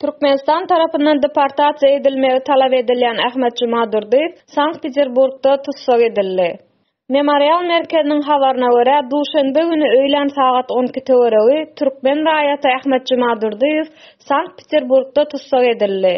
Türkmenistan tarapyndan deportasiýa edilmegi talap edilýän Ahmet Jumadurdyýew Sankt-Peterburgda tussag edildi. Memorial merkeziniň habaryna görä, duşenbe güni öýlän sagat on iki töweregi türkmen raýaty Ahmet Jumadurdyýew Sankt-Peterburgda tussag edildi.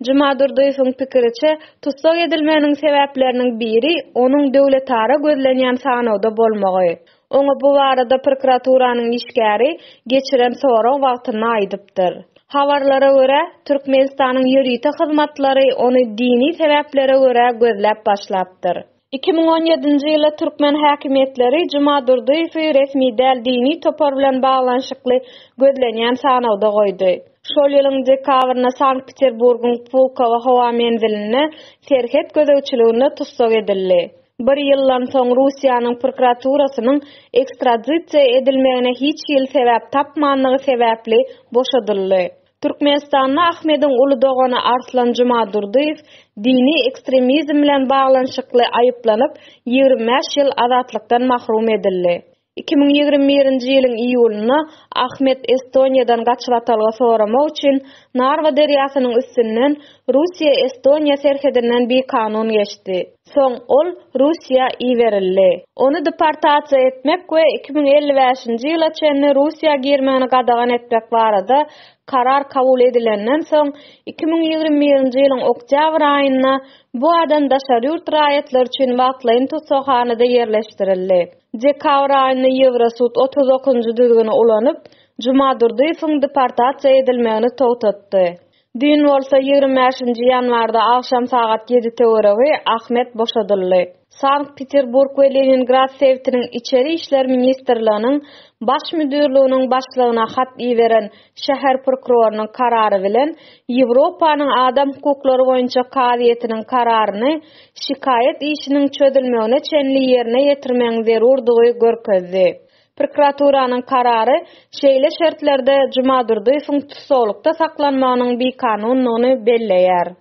Jumadurdyýewiň pikiriçe, tussag edilmeginiň sebäpleriniň biri onuň döwletara gözlenýän sanawda bolmagy. Oňa bu barada prokuraturanyň işgäri geçiren sorag wagtynda aýdypdyr. Habarlara görä, Türkmenistanyň ýörite hyzmatlary ony dini sebäplere görä gözläp başlapdyr. Iki müň on ýedinji ýylda türkmen häkimiýetleri Juma Durdyýewi resmi däl dini topar bilen baglanyşykly gözlenýän sanawda goýdy. Şol ýylyň dekabrynda Sankt-Peterburgyň Pulkowo howa menzilinde serhet gözegçiliginde tussag edildi. Bir ýyldan soň Russiýanyň prokuraturasynyň ekstradisiýa edilmegine hiç hili sebäp tapmandygy sebäpli boşadyldy. Türkmenistanda Ahmediň uly dogany Arslan Jumadurdyýew dini ekstremizm bilen baglanyşykly aýyplanyp, ýigrimi bäş ýyl azatlykdan mahrum edildi. Iki müň ýigrimi birinji ýylyň iýulynda Ahmet Estoniýadan gaçybatalga soramak üçin Narwa derýasynyň üstünden Russiýa-Estoniýa serhedinden bikanun geçdi. Soň ol Russiýa iberildi. Ony deportasiýa etmek we iki müň elli bäşinji ýyla çenli Russiýa girmegini gadagan etmek barada karar kabul edilenden soň iki müň ýigrimi birinji ýylyň oktýabr aýynda bu adam daşary ýurt raýatlary üçin wagtlaýyn tussaghanada ýerleşdirildi. Dekabr aýynda Ýewrosud otuz dokuzynjy düzgüni ulanyp, Jumadurdyýewiň deportasiýa edilmegini togtatdy. Düýn bolsa, ýigrimi bäşinji ýanwarda agşam sagat ýedi töweregi Ahmet boşadyldy. Sankt-Peterburg we Leningrad sebitiniň içeri işler ministrliginiň Baş müdirliginiň başlygyna hat iberen Şäher prokurorynyň karary bilen Ýewropanyň adam hukuklary boýunça kazyýetiniň kararyny şikaýat işiniň çözülmegine çenli ýerine ýetirmegiň zerurdygy görkezdi. Prokuraturanyň karary şeýle şertlerde Jumadurdyýewiň tussaglykda saklanmagynyň bikanundygyny belleýär.